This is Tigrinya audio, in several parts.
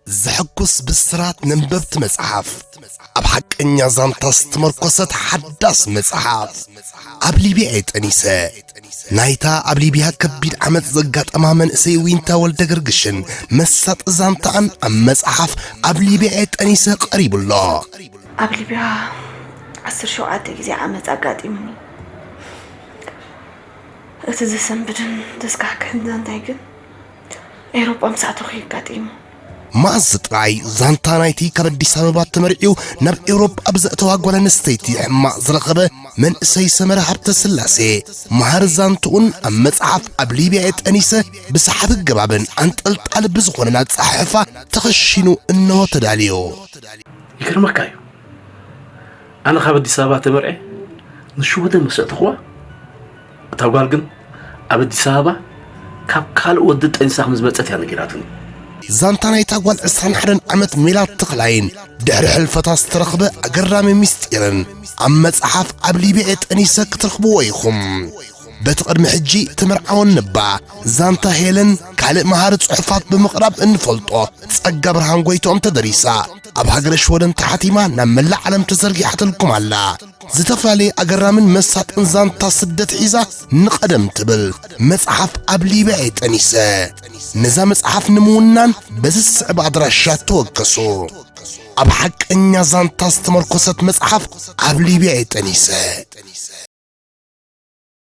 ዘሐጉስ ብስራት ነንበብቲ መጽሓፍ ኣብ ሓቀኛ ዛንታ ዝተመርኮሰት ሓዳስ መጽሓፍ ኣብ ሊብያ እየ ጠኒሰ ናይታ ኣብ ሊብያ ከቢድ ዓመፅ ዘጋጠማ መንእሰይ ዊንታ ወልደ ገርግሽን መሳጢ ዛንታኣን ኣብ መጽሓፍ ኣብ ሊብያ እየ ጠኒሰ ቀሪቡ ኣሎ ኣብ ሊብያ ዓስር ሸውዓተ ግዜ ዓመፅ ኣጋጢሙኒ እቲ ዘሰንብድን ዘስካሕክሕን ዛንታይ ግን ኤውሮጳ ምስ ኣተኹ እዩ ኣጋጢሙ። መኣዝ ጥራይ ዛንታ ናይቲ ካብ ኣዲስ ኣበባ ተመርዕዩ ናብ ኤውሮጳ ብዘእተዋ ጓል ኣንስተይቲ ሕማቕ ዝረኸበ መንእሰይ ሰመረ ሃብተ ስላሴ መሃር ዛንትኡን ኣብ መጽሓፍ ኣብ ሊብያ የጠኒሰ ብሰሓቢ ገባብን ኣንጠልጣሊ ብዝኾነን ኣጸሓሕፋ ተኸሺኑ እነሆ ተዳልዮ። ይገርመካ እዩ ኣነ ካብ ኣዲስ ኣበባ ተመርዔ ንሽወደን መሰእትኹዋ እታ ጓል ግን ኣብ ኣዲስ ኣበባ ካብ ካልእ ወዲ ጠኒሳ ከም ዝመጸት እያ ነጊራትኒ። ዛንታ ናይታ ጓል ዕስራን ሓደን ዓመት ሜላት ተኽላይን ድሕሪ ሕልፈታ ዝተረኽበ ኣገራሚ ምስጢርን ኣብ መጽሓፍ ኣብ ሊብያ እየ ጠኒሰ ክትረኽብዎ ኢኹም። በቲ ቅድሚ ሕጂ ተመርዓወን ነባ ዛንታ ሄለን ካልእ መሃሪ ጽሑፋት ብምቕራብ እንፈልጦ ጸጋ ብርሃን ጎይትኦም ተደሪሳ ኣብ ሃገረ ሽወደን ተሓቲማ ናብ መላእ ዓለም ተዘርጊሓትልኩም ኣላ። ዝተፈላለየ ኣገራምን መሳጥን ዛንታ ስደት ሒዛ ንቐደም ትብል መጽሓፍ ኣብ ሊብያ እየ ጠኒሰ ነዛ መጽሓፍ ንምውናን በዚ ዝስዕብ ኣድራሻ ተወከሱ ኣብ ሓቀኛ ዛንታ ዝተመርኮሰት መጽሓፍ ኣብ ሊብያ እየ ጠኒሰ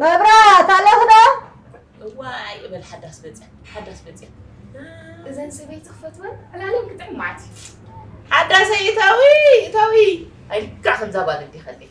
መብራት ኣለኽ ዶ እዋይ እበል ሓዳስ መፅያ ሓዳስ መፅያ እዘን ሰበይቲ ክፈትወን ዕላለን ክጥዕም መዓት እዩ ሓዳሰይ እታዊ እታዊ ኣይልካ ከምዛ ጓል እንዲኸለይ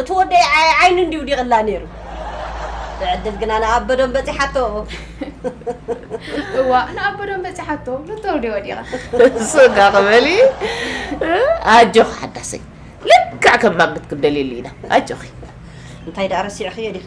እቲ ወደይ ዓይ ዓይኑ እንድዩ ውዲቕላ ነይሩ። ብዕድል ግና ንኣበዶም በጺሓቶ። እዋእ ንኣበዶም በጺሓቶ ንተውዴ ወዲቓ። ሱጋ ክበሊ ኣጆኺ ሓዳሰይ ልክዕ ከም ማግት ክንደልየሉ ኢና ኣጆኺ። እንታይ ደኣ ረሲዕኽዮ ዲኺ?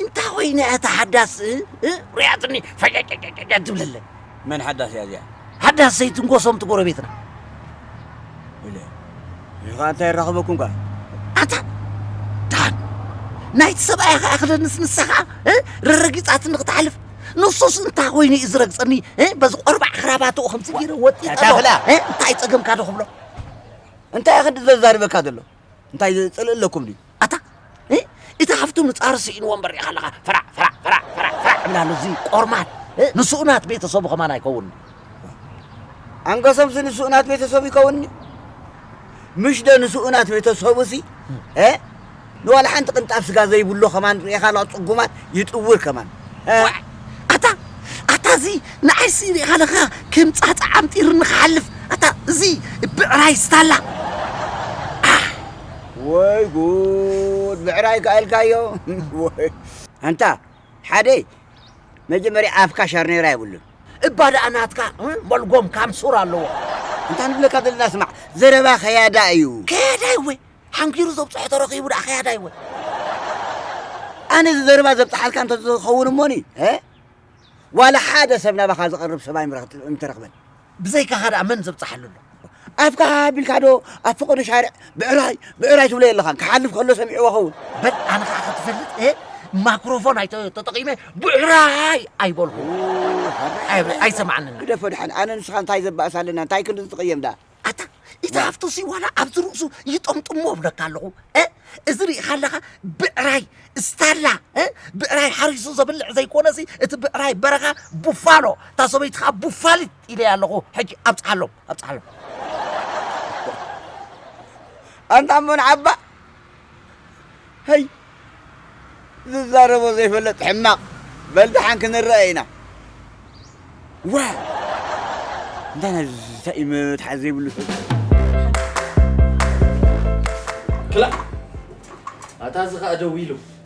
እንታይ ኮይነ እያ እታ ሓዳስ እ? ርእያትኒ ፈጨጨጨጨጨ ትብለለ መን ሓዳስ እያ እዚኣ ሓዳስ ዘይትንጎሶም እቲ ጎረቤትና ኢለ እዚ ከዓ እንታይ ይራኸበኩም ከዓ ኣታ ድሓን ናይቲ ሰብኣይ ከዓ ክደንስ ንሳ ከዓ እ? ረረጊፃትኒ ክትሓልፍ ንሱስ እንታይ ኮይኑ እዩ ዝረግፀኒ እ? በዚ ቆርባዕ ክራባትኡ ከምዚ ገይረ ወጢጠ ዶ? ታፍላ! እ? እንታይ ፀገምካ ዶ ክብሎ እንታይ ክንዲ ዘዛርበካ ዘሎ እንታይ ጽልኢ ኣለኩም ድዩ? ኣታ እ፣ እቲ ሃፍቱ ምጻር ስኢንዎ እምበር ርኢኻ ኣለኻ ፈራዕ ፈራዕ ፈራዕ ፈራዕ ፈራዕ ዕብላሉ እዚ ቆርማት እ፣ ንስኡ ናት ቤተሰቡ ከማን ኣይከውን ኣንገሶምሲ ንስኡ ናት ቤተሰቡ ይከውንኒ ምሽ ደ ንስኡ ናት ቤተሰቡሲ እ፣ ንዋላ ሓንቲ ቅንጣብ ስጋ ዘይብሉ ከማን ርኢኻ ኣለኻ ጽጉማት ይጥውር ከማን ዋዕ ኣታ ኣታ እዚ ንዓይሲ ሪኢኻ ለኻ ከም ጻጻ ዓምጢርኒ ክሓልፍ ኣታ እዚ ብዕራይ ስታላ ወይ ጉድ ብዕራይ ከኣ ኢልካዮ ኣንታ ሓደ መጀመርያ ኣፍካ ሻርኔራ የብሉን እባ ደኣ ናትካ መልጎም ካምሱር ኣለዎ እንታ ንብለካ ዘለና ስማዕ ዘረባ ከያዳ እዩ ከያዳ እወ ሓንኪሩ ዘብጽሖ ተረኺቡ ደኣ ከያዳ ይወ ኣነ እዚ ዘረባ ዘብጽሓልካ እንተ ዝኸውን እሞኒ ዋላ ሓደ ሰብ ናባኻ ዝቐርብ ሰብ ኣይምተረኽበን ብዘይካኻ ደኣ መን ዘብጽሓሉ ኣሎ ኣፍካ ሃቢልካ ዶ ኣብ ፈቐዶ ሻርዕ ብዕራይ ብዕራይ ትብሎ የለኻን ክሓልፍ ከሎ ሰሚዕዎ ኸውን በል ኣነ ከዓ ክትፈልጥ ማክሮፎን ኣይተጠቂመ ብዕራይ ኣይበልኹ ኣይሰማዓንን ግደፎ ድሓን ኣነ ንስኻ እንታይ ዘባእስ ኣለና እንታይ ክንዲ ዝትቐየም ደኣ ኣታ እቲ ሃፍቱ ሲ ዋላ ኣብዚ ርእሱ ይጠምጥሞ እብለካ ኣለኹ እ እዚ ርኢኻ ኣለኻ ብዕራይ ስታላ እ ብዕራይ ሓሪሱ ዘብልዕ ዘይኮነሲ እቲ ብዕራይ በረኻ ቡፋሎ እታ ሰበይቲ ከዓ ቡፋሊት ኢለያ ኣለኹ ሕጂ ኣብፅሓሎም ኣብፅሓሎም ኣንታ መን ዓባ ሀይ ዝዛረቦ ዘይፈለጥ ሕማቅ በል ደሓን ክንረኣይ ኢና ዋይ እንታይ ናይዚ ኢዩ መትሓዚ ዘይብሉ ሰብ ክላእ ኣታ እዚ ከኣ ደዊሉ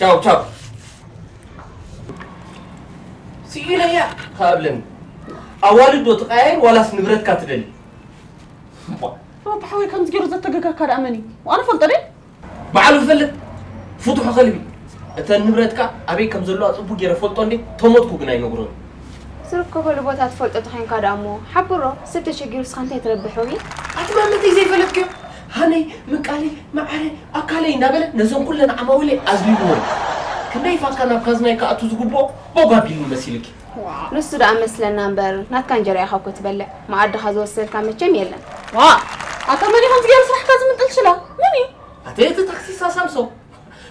ቻው ቻው ስኢለያ ካብለን ኣዋልድ ዶ ትቀያየር ዋላስ ንብረትካ ትደሊ ኣታ ሓወይ ከምዚ ገይሩ ዘተገጋካ ደኣ መን እዩ ኣነ ፈልጦ ደ በዓሉ ዝፈልጥ ፍትሑ ከልቢ እተን ንብረትካ ኣበይ ከም ዘለዋ ፅቡቅ ገይረ ፈልጦ እንዴ ተሞትኩ ግን ኣይነግሮን ዝርከበሉ ቦታ ትፈልጦ ተኮይንካ ደኣ እሞ ሓብሮ ሰብ ተሸጊሩ እስካ እንታይ ትረብሕ ሮሚ ኣቲ ማመተይ ዘይፈለጥክዮ ሃነይ ምቃለይ መዓረይ ኣካለይ እንዳበለ ነዘን ኩለን ዓማዊለይ ኣዝሊልወን እዩ። ክንደይ ፋካ ናብ ካዝናይ ክኣቱ ዝግብኦ ቦግ ኣቢልኒ መሲልኪ። ዋእ ንሱ ደኣ መስለና እምበር ናትካ እንጀራ ኢኻ እኮ ትበልዕ መኣድኻ ዝወሰድካ መቸም የለን። ዋእ ኣታ መን እዩ ከምዚ ገይሩ ስራሕካ ዝምንጥል ሽላ መን እዩ? ኣቲ እቲ ታክሲሳ ሳምሶም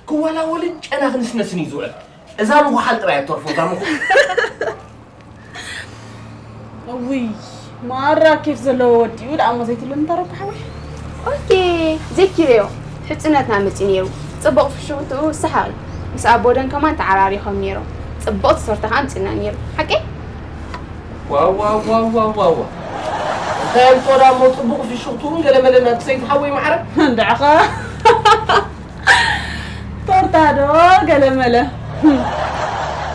ክዋላወልን ጨና ክንስነስን እዩ ዝውዕል። እዛ ምኹሓል ጥራይ ኣትተርፎ እዛ ምኹ ውይ ማራ ኬፍ ዘለዎ ወዲኡ ደኣ እሞ ዘይትብለኒ ተረኩ ሓወይ ኦኬ ዘይኪረዮ ሕፅነትና መፅኡ ነይሩ ፅቡቕ ፍሽኽትኡ ሰሓቕ እዩ ምስ ኣቦደን ከማን ተዓራሪኾም ነይሮም ፅቡቕ ተሰርቶ ከዓ ምፅና ነይሩ ሓቂ ዋዋዋዋዋዋ እንታይ ኣልጦዳ እሞ ፅቡቕ ፍሽኽትኡን ገለመለና ክሰይቲ ሓወይ ማዕረ እንድዕኸ ቶርታ ዶ ገለመለ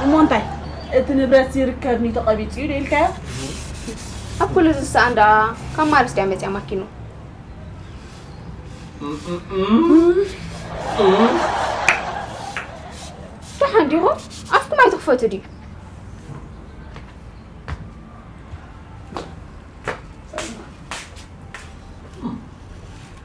እሞ እንታይ እቲ ንብረት ዝርከብኒ ተቐቢፁ እዩ ዶ ኢልካዮ ኣብ ኩሉ ዝሰኣን ደኣ ካብ ማርስ ድያ መፅያ ማኪኑ ደሓን ዲኹ ኣፍኩም ኣይትኽፈቱ ድዩ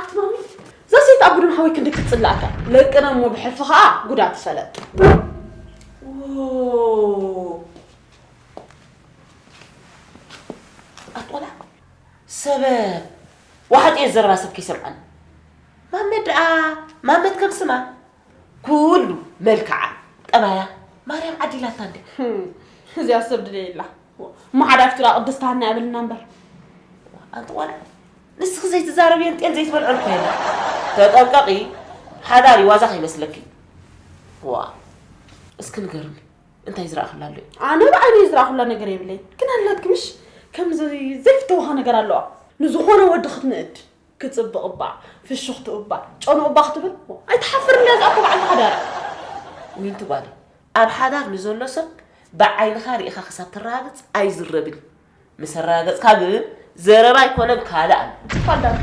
ኣቲ ማሚ እዛ ሰይቲ ኣብ ግዱን ሓወይ ክንዲ ክትጽላኣካ ለቅና እሞ ብሕልፊ ከኣ ጉዳ ትፈለጥ ኣትቆላ ሰበ ዋሕጥ እየ ዘረባ ሰብ ከይሰምዓኒ ማመት ደኣ ማመት ከም ስማ ኩሉ መልክዓ ጠባያ ማርያም ዓዲላታ እንደ እዚኣ ሰብ ድለየላ እሞ ሓደ ኣብቲ ጥቓ ቅድስት ሃና ያብልና እምበር ኣንቲ ቆልዓ ንስኺ ዘይትዛረብየን ጤል ዘይትበልዐን እኮ የለን ተጠንቀቒ ሓዳር ዋዛ ከይመስለኪ ዋ እስኪ ንገርኒ እንታይ ዝረኣኽላ ኣሎ ኣነ ብዓይነይ ዝረኣኹላ ነገር የብለይ ግን ኣላትክምሽ ከምዚ ዘይፍተውኻ ነገር ኣለዋ ንዝኾነ ወዲ ክትንእድ ክጽብቅ እባ ፍሽኽትኡ እባ ጨንኡ እባ ክትብል ኣይትሓፍርን ድያ እዛ እኮ በዓልቲ ሓዳር እያ ዊንቲ ጓለይ ኣብ ሓዳር ንዘሎ ሰብ ብዓይንኻ ሪኢኻ ክሳብ ተራጋግጽ ኣይዝረብን እዩ ምስ ኣራጋገጽካ ግን ዘረባ ኣይኮነን ካልእ ኣሎ ትፋል ዳንተ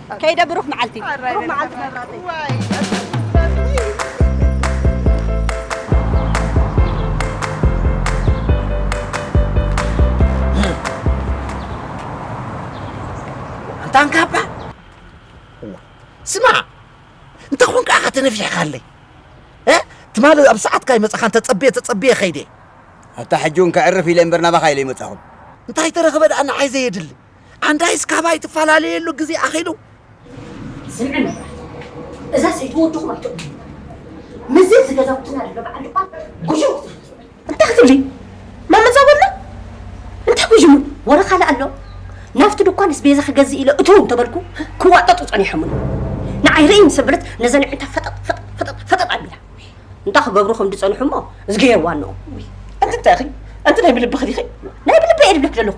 ከይደ ብሩኽ መዓልቲ። ብሩኽ መዓልቲ መብራተይ። ኣንታ ኣንካባ እዋ ስማዕ እንተ ኾን ከዓ ከተነፊሕካለይ እ ትማሊ ኣብ ሰዓትካ ይመፃኻ እንተፀብየ ተፀብየ ከይደ ኣታ ሕጂ እውን ከዕርፍ ኢለ እምበር ናባኻ ኢለ ይመፃኹም እንታይ ተረኽበ ደኣ ንዓይ ዘየድሊ ኣንዳይስ ካባይ ትፈላለየሉ ግዜ ኣኺሉ። ስምዒ መብራህቲ እዛ ሰይቲ ወድኹም ኣይትእመኑ ምስዚ እዚ ገዛውትና ዘሎ በዓል ድኳን ጉዥም ክትብሉ እንታይ ክትብሊ ማመዛጎልና እንታይ ጉዥሙ ወረ ካልእ ኣሎ ናብቲ ድኳንስ ቤዛ ክገዝእ ኢለ እትው እንተበልኩ ክዋጠጡ ጸኒሖምኒ ንዓይ ርእይ ምስ ኣብለት ነዘን ዕንታ ፈጠጥ ፈጠጥ ፈጠጥ ፈጠጥ ኣቢላ እንታይ ክገብሩ ከም ዝጸንሑ እሞ እዝጊሄር ዋንኦም ኣንቲ እንታይ ኢኺ ኣንቲ ናይ ብልብኺ ዲኺ ናይ ብልበይ እየ ዝብለኪ ዘለኹ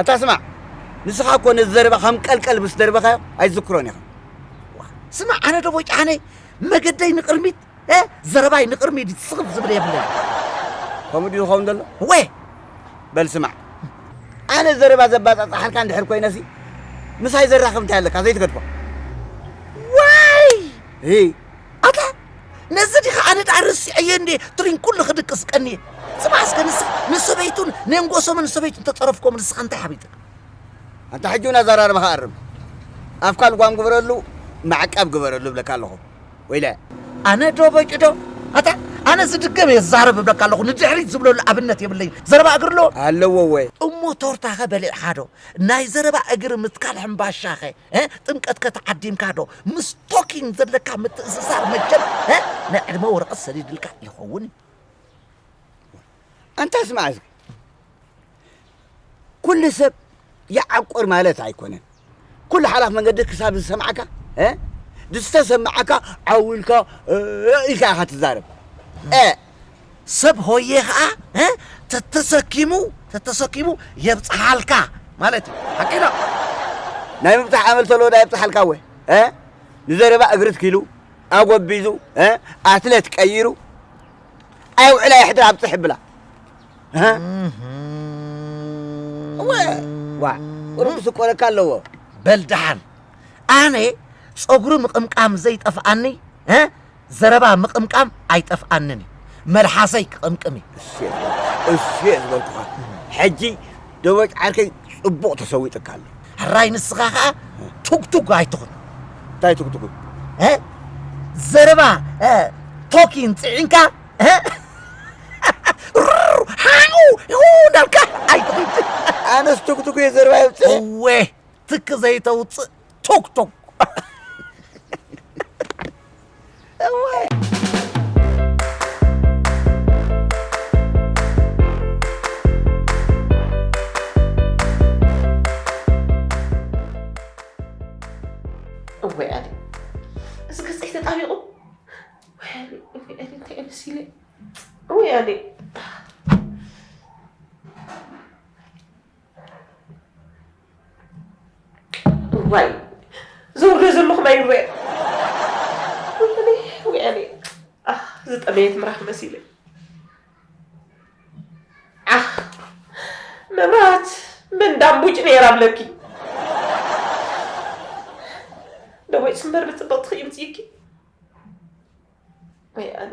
ኣታ ስማዕ ንስኻ እኮ ነዚ ዘረባ ከም ቀልቀል ምስ ደርበኻዮ ኣይትዝክሮን ኢኻ። ስማዕ ኣነ ዶ ቦጫነ መገደይ ንቅርሚት እ ዘረባይ ንቅርሚት ስኽፍ ዝብል የብለይ ከምኡ ድዩ ዝኸውን ዘሎ ወ በል ስማዕ ኣነ ዘረባ ዘባጻጽሓልካ እንድሕር ኮይነሲ ምሳይ ዘራኽብ እንታይ ኣለካ ዘይትገድፎ ዋይ ኣታ ነዚ ዲኻ ኣነ ደኣ ረሲዐዮ እንዴ ትሪን ኩሉ ክድቅስ ቀንየ ጽባሕ እስከ ንስኻ ንሰበይቱን ነንጎሶምን ሰበይቱን ተጸረፍኮም ንስኻ እንታይ ሓቢጥካ ኣንታ ሕጂ እውን ኣዘራርባኻ ኣርም ኣፍካ ልጓም ግበረሉ ማዕቀብ ግበረሉ እብለካ ኣለኹ ወይለ ኣነ ዶ በቂዶ ኣታ ኣነ ዝድገም እየ ዛረብ እብለካ ኣለኹ ንድሕሪት ዝብለሉ ኣብነት የብለይ ዘረባ እግሪ ኣለዎ ኣለዎ ወ እሞ ቶርታኸ በሊዕኻዶ ናይ ዘረባ እግሪ ምትካል ሕምባሻኸ ጥምቀትከ ተዓዲምካዶ ምስ ቶኪን ዘለካ ምትእስሳር መቸም ናይ ዕድመ ወረቐት ሰዲድልካ ይኸውን እዩ ኣንታ ስማዕ እዚ ኩሉ ሰብ ይዓቁር ማለት ኣይኮነን ኩሉ ሓላፍ መንገዲ ክሳብ ዝሰምዓካ ዝተሰምዓካ ዓው ኢልካ ኢልካ ኢኻ ትዛረብ ሰብ ሆየ ከኣ ተተሰኪሙ ተተሰኪሙ የብጽሓልካ ማለት እዩ ሓቂ ዶ ናይ ምብጻሕ ኣመል ተለዎ ዳ የብጽሓልካ ወ ንዘረባ እግሪ ትኪሉ ኣጎቢዙ ኣትለት ቀይሩ ኣይውዕላ የሕድር ኣብጽሕ ብላ ዋ ቁሩብ ክስቆረካ ኣለዎ በል ደሓን ኣነ ጸጉሪ ምቕምቃም ዘይጠፍኣኒ ዘረባ ምቕምቃም ኣይጠፍኣንን እዩ መልሓሰይ ክቕምቅም እዩ። እሱ የዝበልኩኻ እሱ የዝበልኩኻ ሕጂ ደበጭ ዓርከይ ጽቡቕ ተሰዊጥካ ኣሎ ሕራይ ንስኻ ኸኣ ቱግቱግ ኣይትኹን እንታይ ትጉትጉ እ? ዘረባ እ፣ ቶኪን ጽዒንካ እ? ሩር፣ ሓኡ ኡ እንዳልካ ኣይትኹን ኣነስ ትጉትጉ እየ ዘረባ የብጽሕ እወ ትክ ዘይተውፅእ ቶክ ቶክ እወይ ኣሊ እዚ ገፀይ ተጣቢቑ ወይ ኣሊ እወይ ኣሊ እንታይ እዩ መሲለ እወይ ኣሊ እዋይ ዘውርዶ ዘለኹ ማይ ንበየ ወያኔ ኣኽ ዝጠመየት ምራኽ መሲለ ኣኽ መብራት መንዳምቡጭ ነይራ ብለኪ ደወይ ስምበር ብፅብቕቲ ክይምፅይኪ ወያኔ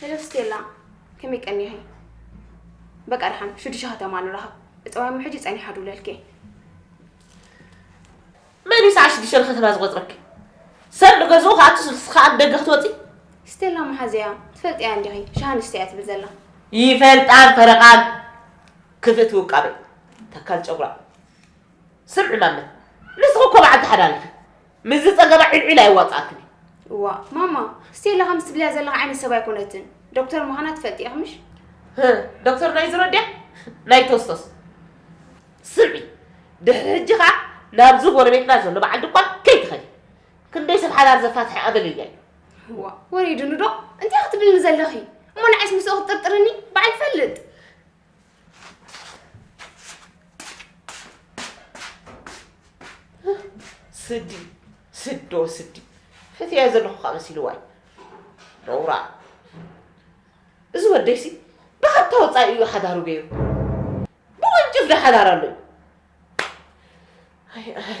ሄሎ ስቴላ ከመይ ቀኒኺ? በቃ ድሓን ሽዱሽተ ከተማ ንራኸብ እፀዋይ እሞ ሕጂ ፀኒሓ ድውለልኪ እየ መን እዩ ሰዓት ሽዱሽተ ንከተማ ዝቆፅረኪ ሰብ ንገዝኡ ከኣቱ ስልሲ ከኣ ደገ ክትወፂ ስቴላ መሓዘያ ትፈልጥያ እንዲኺ ሸሃን ስተያ ትብል ዘላ ይፈልጣን ፈረቓን ክፍእቲ ውቃበ ተካል ጨጉራ ስምዒ ማመ ንስኺ እኮ በዓልቲ ሓዳር ኢኺ ምስዚ ጸገባ ዒልዒል ኣየዋጽኣክን እዩ። እዋእ ማማ ስቴላ ከምዚ ትብልያ ዘለኻ ዓይነት ሰብ ኣይኮነትን ዶክተር ምዃና ትፈልጢ ኢኺ ምሽ ህ፣ ዶክተር ናይ ዝሮ ድያ ናይ ቶስቶስ ስምዒ ድሕሪ ሕጂ ከዓ ናብዚ ጎረቤትና ዘሎ በዓል ድኳን ከይትኸዲ ክንደይ ሰብ ሓዳር ዘፋትሐ ኣገልልያ እዩ እዋ ወሪድኑ ዶ እንታይ ክትብልኒ ዘለኺ እሞ ንዓይስ ምስኡ ክትጥርጥርኒ በዓል ፈልጥ ስዲ ስዶ ስዲ ፈትያ ዘለኹ ከዓ መሲልዋይ ረውራ እዚ ወደይሲ ብሓታ ወፃኢ እዩ ሓዳሩ ገይሩ ብወንጭፍ ዶ ሓዳር ኣሎ እዩ ኣይ ኣረ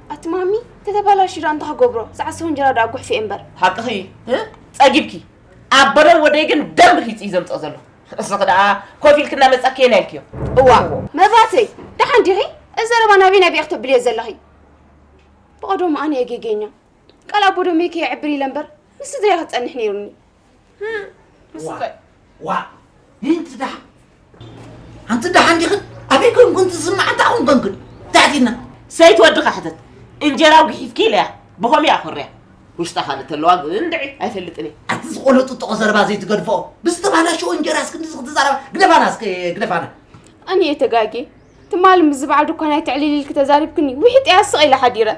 ኣቲ ማሚ ተተባላሽ ዳኣ እንታይ ክገብሮ ዝዓሰወ እንጀራ ዳኣ ጉሕፍ እየ እምበር ሓቅኺ እ ጸጊብኪ ኣበሎ ወደይ ግን ደም ርሂጽ እዩ ዘምጽኦ ዘሎ እስኺ ዳኣ ኮፍ ኢልኪ እናመጻኪ የን ኢልክዮ እዋ መብራተይ ደሓን ዲኺ እዚ ዘረባ ናበይ ናበይ ክተብልዮ ዘለኺ ብቐደሙ ኣነ እየ ጌገኛ ቃል ኣቦ ደመይ ከየዕብር ኢለ እምበር ምስ ስድራይ ክጸንሕ ነይሩኒ ዋእ ምንቲ ደሓን ኣንቲ ደሓን ዲኽን ኣበይ ኮንኩን ዝስማዕ እንታይ ኮን ኮንኩን ዛዕቲና ሰይቲ ወድኻ ሕተት እንጀራ ጉሒፍኪ ኢለያ ብኸምኡ እያ ኮርያ ውሽጣ ካልእ ተለዋ ግን ድዒ ኣይፈልጥን እየ ኣቲ ዝቆሎ ጥጥቆ ዘረባ ዘይትገድፎ ብዝተባላሸወ እንጀራ እስክንዲ ዝክትዛረባ ግደፋና እስከ ግደፋና እኔ ተጋጌ ትማሊ ምስዚ በዓል ድኳን ኣይትዕልል ኢልኪ ተዛሪብክኒ ውሒጥ እያ ስቕ ኢለ ሓዲረ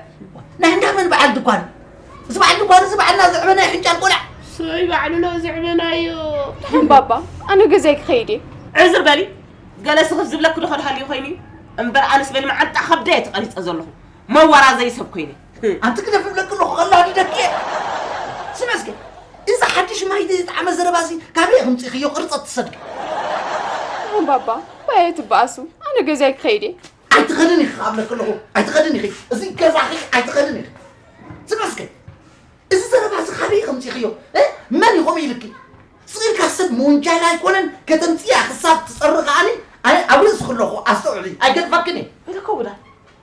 ናይ እንዳ መን በዓል ድኳን እዚ በዓል ድኳን እዚ በዓልና ዝዕበ ናይ ሕንጫል ቆልዓ ሰይ ባዕሉ ሎ ዝዕበናዮ ድሓን ባባ ኣነ ገዛይ ክኸይድ እየ ዕዝር በሊ ገለ ስኽፍ ዝብለኪ ዶ ከድሃልዩ ኮይኑ እዩ እምበር ኣነስ በሊ መዓንጣ ከብደየ ተቐሪፀ ዘለኹ መዋራ ዘይሰብ ኮይነ ኣንቲ ክደፍ እብለኪ ኣለኹ ከላዲደኪ እየ ስሚ እስከ እዚ ሓድሽ ማይ ዝጠዓመ ዘረባ እዚ ካበይ ክምፅእክዮ ቅርፀት ትሰዱ እም ባባ ባየ ትበኣሱ ኣነ ገዛይ ክኸይድ እየ ኣይትኸድን ኢኺ ኣብለኪ ኣለኹ ኣይትኸድን ኢኺ እዚ ገዛኺ ኣይትኸድን ኢኺ ስሚ እስከ እዚ ዘረባ እዚ ካበይ ክምፅእክዮ እ? መን እዩ ከምኡ ኢልኪ ስኢልካ ሰብ ምውንጃል ኣይኮነን ከተምፅያ ክሳብ ትፀሪ ከዓኒ ኣነ ኣብ ርእስኺ ኣለኹ ኣስተውዕሊ ኣይገድፈክን እየ ርክቡላ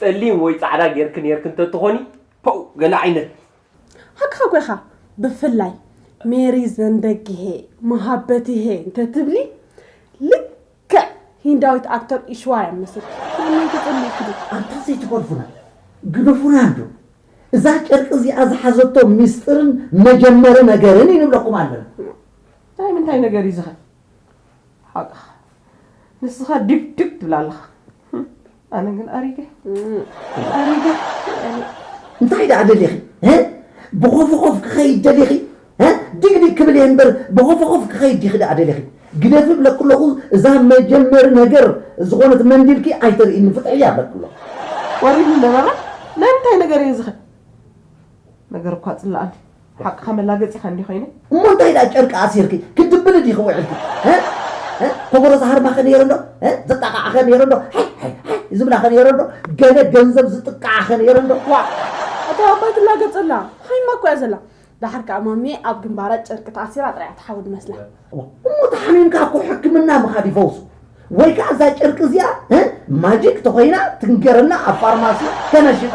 ጸሊም ወይ ጻዕዳ ጌርኪ ኔርኪ እንተትኾኒ ፖው ገለ ዓይነት። ሃቅኻ ኮይካ ብፍላይ ሜሪ ዘንበግሄ መሃበትሄ እንተትብሊ ልክዕ ሂንዳዊት ኣክተር ኢሽዋ እያ መስልኪ ንመን ተጸሊእኪ ዶ ኣንታ ዘይትኮርፉና ግደፉና እንዶ እዛ ጨርቂ እዚኣ ዝሓዘቶ ሚስጥርን መጀመሪ ነገርን እዩ ንብለኩም ኣለና። ናይ ምንታይ ነገር እዩ ዝኸ ሓቕኻ ንስኻ ድብ ድብ ትብል ኣለኻ ኣነ ግን ኣሪገ ኣሪገ እንታይ ደኣ ደሊኺ ብኾፍኾፍ ክኸይድ ደሊኺ ድግድግ ክብል እየ እምበር ብኾፍኾፍ ክኸይድ ዲኺ ደኣ ደሊኺ ግደፊ ብለኩ ኣለኹ እዛ መጀመሪ ነገር ዝኾነት መንዲልኪ ኣይተርእይኒ ፍትሕያ ብለኩ ኣለኹ ወሪዱ ነበራ ናይ ምንታይ ነገር እየ ዝኸ ነገር እኳ ጽላኣኒ ሓቅኻ መላገጺኻ እንዲዩ ከይኑ። እሞ እንታይ ድኣ ጨርቂ ኣሲርኪ ክትድብሊ ዲኺ ውዒልኪ ሀ ሀ ኮቦሮ ዝሃርማ ከ ነይሩ ዶ ሀ ዝጣቓዓ ከ ነይሩ ዶ ሀይ ሀይ ሀይ ዝብላ ከ ነይሩ ዶ ገለ ገንዘብ ዝጥቃዓ ከ ነይሩ ዶ ዋእ ኣታ ኣባይ ትላገጽ ኣላ ሓይማ እኮ እያ ዘላ ደሓር ከኣ ማሚየ ኣብ ግንባራ ጨርቂ ተኣሲራ ጥራይ እያ ትሓውድ መስላ። እሞ ተሓሚምካ እኮ ሕክምና ምኻድ ይፈውሱ ወይ ከዓ እዛ ጨርቂ እዚኣ እ ማጂክ ተኾይና ትንገረና ኣብ ፋርማሲ ከነሽጣ።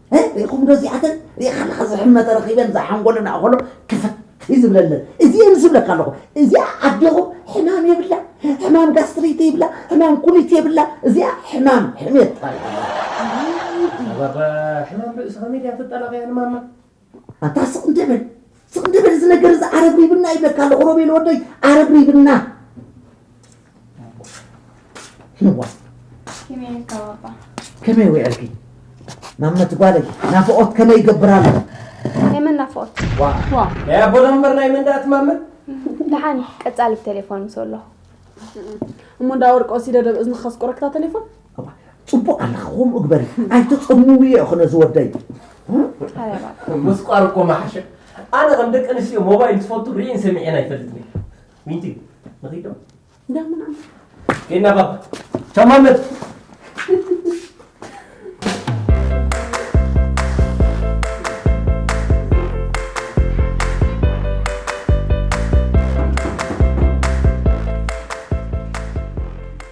ሪኢኹም ዶ እዚኣተን ሪኢኻ ኣለኻ ዝሕመ ተረኺበን ዝሓንጎለን ኣእኸሎ ክፍት ዝብለለን እዚኤን ዝብለካ ኣለኹ እዚኣ ኣዴኹም ሕማም የብላ ሕማም ጋስትሪት ይብላ ሕማም ኩሊት የብላ እዚኣ ሕማም ሕሜት ሕማም ርእሲ ከመይ ድያ ትጠላቐያ ንማማ ኣታ ስቕ እንተብል ስቕ ግበር እዚ ነገር እዚ ኣረብሪብና ይብለካ ኣለኹ ሮቤል ወደይ ኣረብሪብና ህዋ ከመይ ውዕልኪ ማመት ጓለይ ናፍቆት ከመይ ይገብር ኣሎ የመን ናፍቆት ናይ ኣቦና ምበር ናይ መንዳእት ማመት ደሓን ቀጻሊ ብቴሌፎን ምስ ኣለኹ እሞ እንዳ ወርቂ ወሲደ ደብ እዝንኻ ስቁረክታ ቴሌፎን ፅቡቅ ኣለኻ ከምኡ ግበሪ ኣይተፀምምዮ እኮ ነዚ ወደይ ምስቋር እኮ መሓሸ ኣነ ከም ደቂ ኣንስትዮ ሞባይል ዝፈቱ ርኢን ሰሚዔን ኣይፈልጥን ዊንቲ ንኺዶ ጌና ባባ ተማመት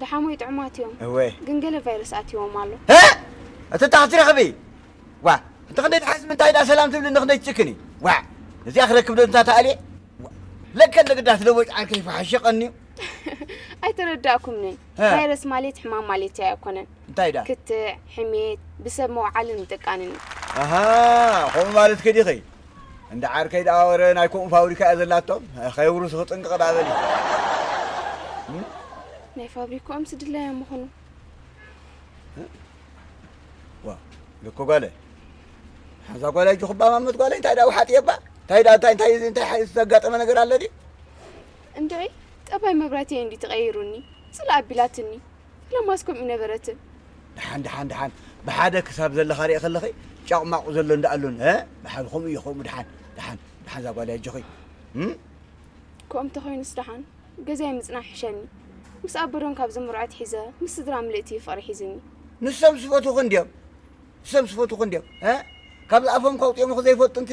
ደሓሞይ ጥዑማት እዮም ግን ገለ ቫይረስ ኣትዎም ኣሎ እቲ ታኽ ትረኽቢ ዋ እንተ ክንደይ ትሓዝ ምንታይ ዳ ሰላም ትብሊ ንክንደይ ትጭክኒ ዋ እዚኣ ክረክብ ዶ እንታ ተኣልየ ለከ ንግዳት ለቦጭ ዓርኪ ይፈሓሸቀኒ እዩ ኣይተረዳእኩምንን ቫይረስ ማለት ሕማም ማለት እያ ኣይኮነን እንታይ ዳ ክትዕ ሕሜት ብሰብ መውዓልን ምጥቃንን እዩ ከምኡ ማለት ከዲኸይ እንዳ ዓርከይ ደኣ ወረ ናይ ከምኡ ፋብሪካ እያ ዘላቶም ከየብርሱ ክጥንቅቕ ደኣ በሊ እም? ናይ ፋብሪክኦም ስድላዮም ምኹኑ ዋ ልክ ጓለ ሓዛ ጓለ እጅ ክባማመት ጓለ እንታይ ደኣ ውሓጥየባ እንታይ ደኣ እንታይ እንታይ እንታይ ዝተጋጠመ ነገር ኣለ ድዩ እንድዒ ጠባይ መብራትየ እንዲ ተቐይሩኒ ጽላእ ኣቢላትኒ ፈለማስ ከምኡ ነበረትን። ደሓን ደሓን ደሓን ብሓደ ክሳብ ዘለኻ ሪኤ ከለኺ ጫቕማቑ ዘሎ እንዳ ኣሎን እ ብሓደ ከምኡ እዩ ከምኡ ደሓን ደሓን ደሓን እዛ ጓል ኣጆኺ ከምኡ እንተኾይኑስ ደሓን ገዛይ ምጽናሕ ይሕሸኒ ምስ ኣበዶም ካብ ዝምርዖት ሒዘ ምስ ስድራ ምልእቲ እዩ ፍቕሪ ሒዝኒ ንሶም ስፈትኹ እንድዮም ንሶም ስፈትኹ እንድዮም እ ካብ ዝኣፎም ከውፅኦም ዘይፈልጡ እንቲ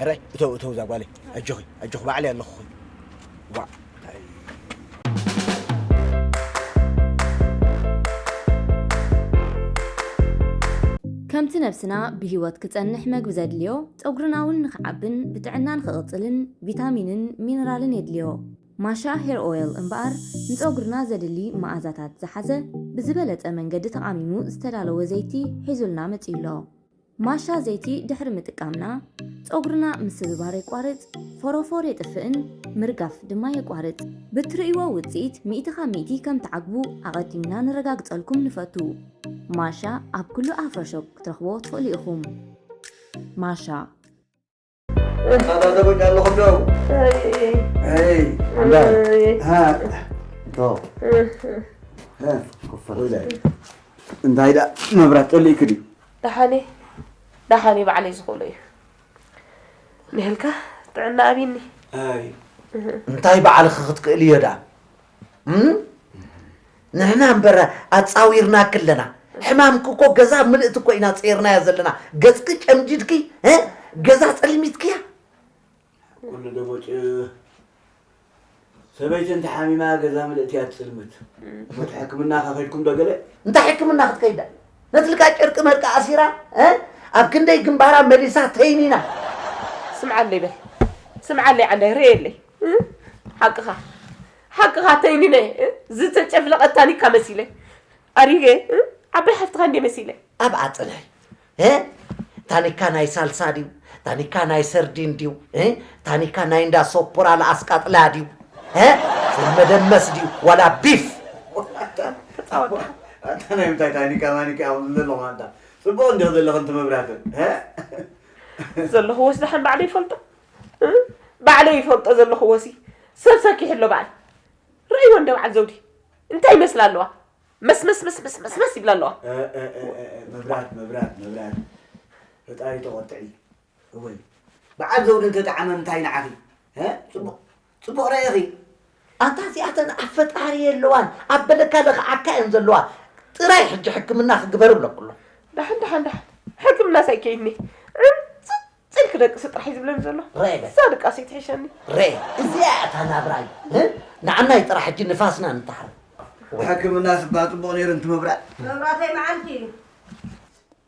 ሕራይ እተው እተው እዛ ጓለይ ኣጆኺ ኣጆኺ ባዕለይ ኣለኹኺ ዋእ ከምቲ ነብስና ብህይወት ክጸንሕ መግቢ ዘድልዮ፣ ጸጉርና እውን ንኽዓብን ብጥዕና ንኽቕጽልን ቪታሚንን ሚነራልን የድልዮ። ማሻ ሄር ኦይል እምበኣር ንጸጉርና ዘድሊ መኣዛታት ዝሓዘ ብዝበለጸ መንገዲ ተቓሚሙ ዝተዳለወ ዘይቲ ሒዙልና መጺኡ ኣሎ። ማሻ ዘይቲ ድሕሪ ምጥቃምና ጸጉርና ምስብባር የቋርጽ፣ ፎሮፎር የጥፍእን ምርጋፍ ድማ የቋርጽ። ብትርእይዎ ውጽኢት ሚእቲ ካብ ሚእቲ ከም ትዓግቡ ኣቐዲምና ነረጋግጸልኩም ንፈቱ። ማሻ ኣብ ኩሉ ኣፍሮ ሾፕ ክትረኽብዎ ትኽእሉ ኢኹም። ማሻ። ታታተቦች ያለሁ ነው እንታይ ደኣ መብራት ጠሊእክ ድዩ ደሓኒ ደሓኒ ባዕለይ ዝኽእሎ እዩ ንህልካ ጥዕና ኣብኒ እንታይ ባዕልኺ ክትክእል እዮ ደኣ ንሕና እምበር ኣጻዊርናኪ ኣለና ሕማምኪ እኮ ገዛ ምልእቲ እኮ ኢና ጸይርናያ ዘለና ገጽኪ ጨምዲድኪ ገዛ ጸልሚትክያ ኩሉ ደቦጭ ሰበይቲ እንተ ሓሚማ ገዛ ምልእቲ እያ ትጽልምት ሞት ሕክምና ከኸድኩም ዶ ገለ እንታይ ሕክምና ክትከይዳ ነትልካ ጨርቂ መርቂ ኣሲራ ኣብ ክንደይ ግንባራ መሊሳ ተይኒና ስምዓለይ በል ስምዓለይ ዓንዳይ ርእየለይ ሓቅኻ ሓቅኻ ተይኒነ ዝተጨፍለቐት ታኒካ መሲለ ኣሪገ ዓባይ ሓፍትኻ እንደ መሲለ ኣብ ኣፅናይ ታኒካ ናይ ሳልሳ ድዩ ታኒካ ናይ ሰርዲን ድዩ ታኒካ ናይ እንዳ ሶፖራ ለኣስቃጥላ ድዩ መደመስ ድዩ ዋላ ቢፍ ኣታ ናይ ምንታይ ታኒካ ማኒካ ኣኹም ዘለኹ ኣንታ ፅቡቕ እንዲኹ ዘለኹ እንት መብራትን ዘለኹ ወስዳሓን ባዕለ ይፈልጦ ባዕለይ ይፈልጦ ዘለኹዎሲ ሰብ ሰኪሑ ኣሎ በዓል ርእይዎ እንደ በዓል ዘውዲ እንታይ ይመስላ ኣለዋ መስመስመስመስመስ ይብላ ኣለዋ መብራት መብራት መብራት ፈጣሪ ተቆጥዒ እወይ በዓል ዘውዲ እንተጠዓመ እንታይ ንዓኺ ጽቡቕ ጽቡቅ ረኢኺ ኣንታ እዚኣተን ኣብ ፈጣሪ የለዋን ኣብ በለካ ለኽዓካ እየን ዘለዋ ጥራይ ሕጂ ሕክምና ክግበር እብለኩሎ ዳሕን ዳሕን ዳሕን ሕክምና ሳይ ከይኒ ዕንጽ ጽል ክደቅስ ጥራሕ እዩ ዝብለኒ ዘሎ እዛ ድቃሰይ ትሕሸኒ ረ እዚኣ እታ ናብራ እዩ ንዓናይ ጥራሕ ሕጂ ንፋስና ንተሓረ ሕክምና ስባ ፅቡቅ ነይሩ እንትምብራእ መብራተይ መዓልቲ እዩ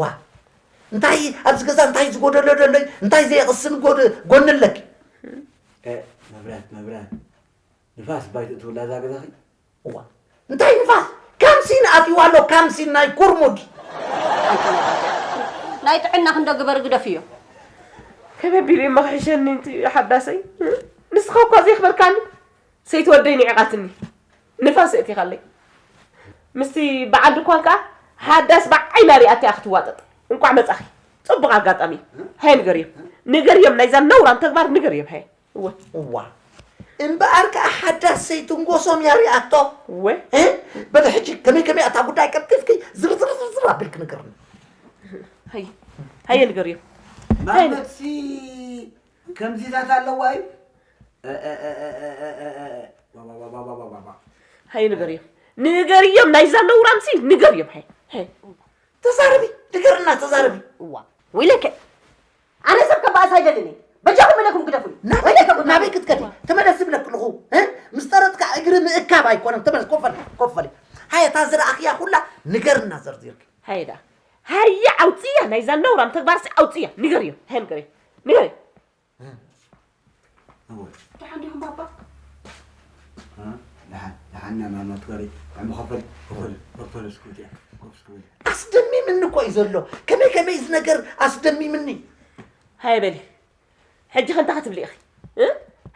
ዋ እንታይ ኣብዚ ገዛ እንታይ ዝጎደሎ ደሎይ እንታይ ዘይቕስን ጎኒ ኣለኪ መብራት መብራት ንፋስ ባይት እትውላ እዛ ገዛኺ እዋ እንታይ ንፋስ ካምሲን ኣትይዋ ኣሎ ካምሲን ናይ ኩርሙድ ናይ ጥዕና ክንዶ ግበር ግደፍዮ ከመይ ቢሉ እዩ መኽሒሸኒ ሓዳሰይ ንስኻ እኳ ዘይኽበርካኒ ሰይቲ ወደይ ንዒቓትኒ ንፋስ የእቲኻለይ ምስቲ በዓል ድኳን ከኣ ሃዳስ ብዓይና ሪኣ እቲኣ ክትዋጠጥ እንቋዕ መጻኺ ጽቡቕ ኣጋጣሚ እዩ ሃየ ንገርዮም ንገርዮም ናይዛ ነውራም ተግባር ንገርዮም ሃየ እወ እዋ እምበኣር ከኣ ሓዳስ ዘይትንጎሶም እያ ሪኣቶ እወ እ በለ ሕጂ ከመይ ከመይ እታ ጉዳይ ቀልጢፍኪ ዝርዝርዝርዝር ኣቢልኪ ንገርኒ ሃየ ሃየ ንገርዮም ማመትሲ ከምዚታት ኣለዋ እዩ ሃይ ንገርዮም ንገርዮም ናይዛ ነውራምሲ ንገርዮም ሃይ ሃይ ተዛረቢ ንገርና ተዛረቢ እዋ ወይለከ ኣነ ሰብ ከባእስ ኣይደልን እየ በጃኹም እለኩም ግደፉኒ ወይለከ ናበይ ክትከዲ ተመለስ ዝብለክ ኣለኹ ምስ ጠረጥካ እግሪ ምእካብ ኣይኮነን ተመለስ ኮፍ በል ኮፍ በል ሃየ እታ ዝረኣኽያ ኩላ ንገርና ዘርዚርክ ሃየ ደኣ ሃየ ኣውፅያ ናይዛ ነውራም ተግባርሲ ኣውፅያ ንገርዮም ሃይ ንገርዮም ንገርዮም ደሓን ዲኹም ባባ? ደሓን ደሓን ኢና ማማ ትበሪ ጥዕሚ ከበል ከበል ዶክተር እስክብት እያ ኮፍ እስክብል ኣስደሚምኒ እኮ እዩ ዘሎ ከመይ ከመይ እዚ ነገር ኣስደሚምኒ ሃየ በሊ ሕጂ ከ እንታይ ክትብሊ ኢኺ እ?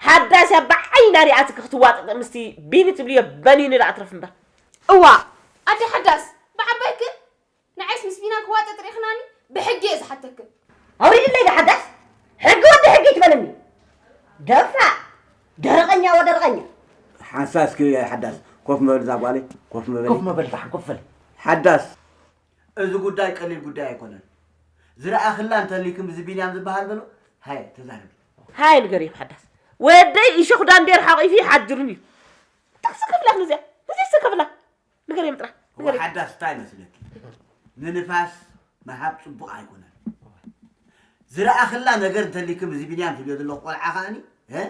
ሓዳስ እያ ብዓይና ሪኣትኪ ክትዋጥጥ ምስቲ ቢኒ ትብልዮ በኒኒ ደኣ ትረፍ እምበር እዋ ኣደ ሓዳስ ብዓባይክን ንዓይስ ምስ ቢና ክዋጠጥ ሪእኽናኒ ብሕጊ እየ ዝሓተክን። ኣውሪድለይ ብሓዳስ ሕጊ ወዲ ሕጊ ኣይትበለኒ ደፋእ ደረቐኛ ወደረቐኛ። ሓንሳእ እስኪ ሓዳስ ኮፍ ምበል እዛ ጓለይ ኮፍ ምበሊ። ኮፍ ምበል ፋሕ ኮፍ በል። ሓዳስ እዚ ጉዳይ ቀሊል ጉዳይ ኣይኮነን ዝረኣኽላ እንተልይክም እዚ ቢንያም ዝበሃል በሎ ሃየ ተዛረቢ። ሃየ ንገርዮም ሓዳስ ወደይ እሾኽ ዳንዴር ሓቚፉ ይሓድርን እዩ ጥቅሲ ክብላ እዚኣ እዚስ ክብላ ንገርዮም ጥራሕ እዋ ንገርዮም ሓዳስ እንታይ መስለኪ ንንፋስ ምሃብ ፅቡቅ ኣይኮነን ዝረኣክላ ነገር እንተሊክም እዚ ቢንያም ትብልዮ ዘለኩ ቆልዓ ከኣኒ እ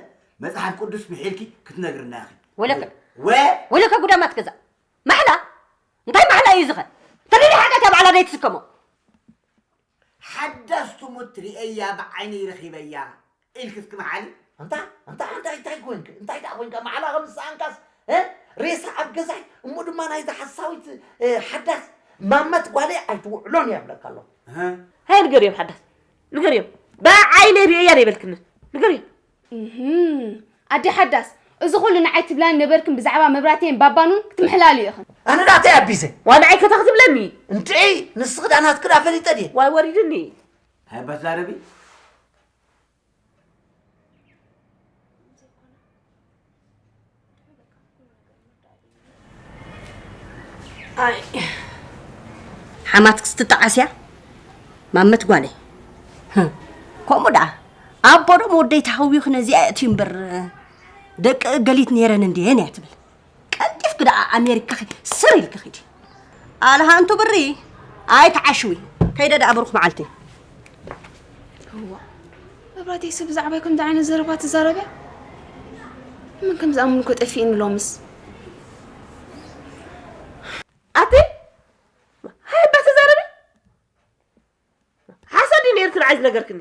መፅሓፍ ቅዱስ ምሒልኪ ክትነግርና ኢኺ ወለከ ወ ወለከ ጉዳማት ገዛ ማሕላ እንታይ ማሕላ እዩ ዝኸ እንተደይ ሓጢኣት እያ ባዕላ ደይ ትስከሞ ሓዳስ ትሙት ሪኤያ ብዓይነይ ረኺበያ ኢልኪ እስኪ መሓሊ። ኣንታ ኣንታ ኣንታ እንታይ ኮንክ እንታይ ደኣ ኮንካ ማዕላ ከም ዝሰኣንካስ እ ሬሳ ኣብ ገዛይ እሞ ድማ ናይዛ ሓሳዊት እ፣ ሓዳስ ማመት ጓለይ ኣይትውዕሎን እያ ይብለካ ኣሎ እ፣ ሃየ ንገርዮም ሓዳስ ንገርዮም ብዓይነይ ሪኤያ ዶ ኣይበልክንን ንገርዮም ኣደ ሓዳስ እዚ ኩሉ ንዓይ ትብላኒ ነበርክን ብዛዕባ መብራቴን ባባኑን ክትምሕላልዩ ኢኽን። ኣነ ናተይ ኣቢዘ። ዋይ ንዓይ ከታ ክትብለኒ። እንድዒ ንስኺ ድኣ ናትኪ ድኣ ፈሊጠ ድየ። ዋይ ወሪድኒ። ሃየ እባ ተዛረቢ። ኣይ ሓማትክስ ትጠዓስ እያ ማመት ጓለይ ህም፣ ከምኡ ደኣ ኣቦ ደሞ ወደይ ተሃዊኹ ነዚኣ የእትዩ እምበር ደቂ እገሊት ነይረን እንድየን እያ ትብል ቀልጢፍኪ ደኣ ኣሜሪካ ኺ- ስር ኢልኪ ኺዲ ኣልሃንቱ ብሪ ኣይትዓሽዊ ከይደ ደኣ ብሩኽ መዓልቲ መብራህተይ ሰብ ብዛዕባይ ከምዚ ዓይነት ዘረባ ትዛረበ ምን ከም ዝኣምኑ እኮ ጠፊእኒ ሎምስ ኣቲ ሃይባ ተዛረቢ ሓሶት ድዩ ነይሩ ትብዓል ዝነገርክኒ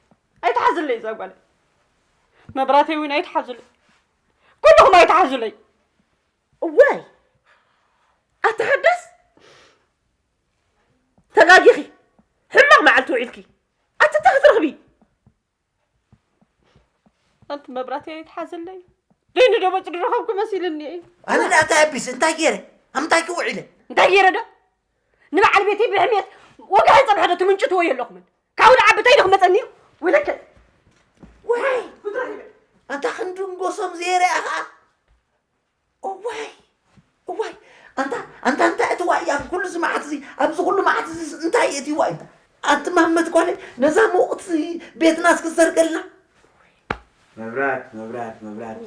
ኣይትሓዙለይ እዛ ጓለይ መብራተይ እውን ኣይትሓዙለይ ኩልኹም ኣይትሓዙለይ እዋይ ኣቲ ሓዳስ ተጋጊኺ ሕማቕ መዓልቲ ውዒልኪ ኣቲ እንታይ ክትረኽቢ ኣንቲ መብራተይ ኣይትሓዙለይ ደይኑ ዶ በጭ ዝረኸብኩ መሲልኒ ኣነ ደኣ እንታይ ኣቢስ እንታይ ገይረ ኣብ እንታይ ክውዒለ እንታይ ገይረ ዶ ንበዓል ቤተይ ብሕሜት ወግሐ ፀብሐ ዶ ትምንጭትዎ የለኹምን ካብኡ ንዓቢ እንታይ ዶ ክመፀኒ እዩ ወይለከ ዋይ ኣንታ ክንድንጎሶም ዘይርኣ ከዓ እዋይ እዋይ ኣንታ ኣንታ እንታይ እቲ ዋይ ኣብ ኩሉ እዚ መዓት እዚ ኣብዚ ኩሉ መዓት እዚ እንታይ እቲ ዋይ እንታ ኣቲ ማመት ጓለ ነዛ ምውቕት ቤትና እስኪ ዘርገልና መብራት መብራት መብራት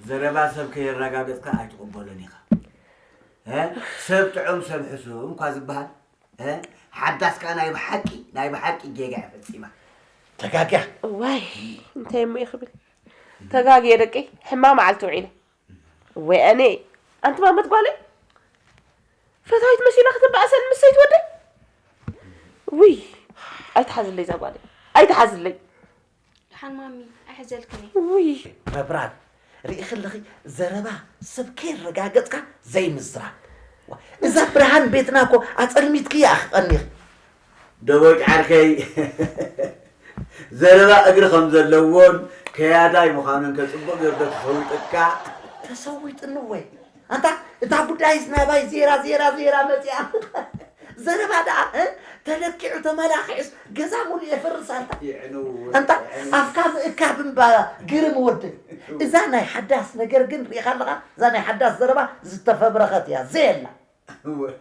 ዘረባ ሰብ ከየረጋገፅካ ኣይትቕበሎን ኢኻ ሰብ ጥዑም ሰብ ሕሱም እኳ ዝበሃል ሓዳስ ከኣ ናይ ብሓቂ ናይ ብሓቂ ጌጋ እያ ፈጺማ ተጋግያ ዋይ እንታይ እሞ ይኽብል ተጋግየ ደቀይ ሕማ መዓልቲ ውዒለ ወይ ኣነ ኣንቲ ማመት ጓለይ ፈታዊት መሲላ ክትበኣሰን ምስ ሰይትወደይ ውይ ኣይትሓዝለይ እዛ ጓለይ ኣይትሓዝለይ ድሓን ማሚ ኣይሕዘልክን እየ። ውይ ረብራብ ሪኢኺ ኣለኺ ዘረባ ሰብ ከየረጋገጽካ ዘይምዝራብ ዋእ እዛ ብርሃን ቤትና እኮ ኣጸልሚትክያ ኣኺ ቀኒኺ። ደቦጭ ዓርከይ ዘረባ እግሪ ከም ዘለዎን ከያዳይ ምዃኑን ከ ጽቡቕ ጌሩ ዶ ተሰዊጡካ? ተሰዊጡኒ ወይ ኣንታ እታ ጉዳይስ ናባይ ዜራ ዜራ ዜራ መጺኣ ዘረባ ደኣ እ? ተለኪዑ ተመላኺዑስ ገዛ ሙሉእ የፍርስ ኣላ የዕንው ኣንታ የዕንው ኣፍካ ምእካብ እምባ ግርም ወዲ እዛ ናይ ሓዳስ ነገር ግን ርኢኻ ኣለኻ እዛ ናይ ሓዳስ ዘረባ ዝተፈብረኸት እያ ዘየላ እወ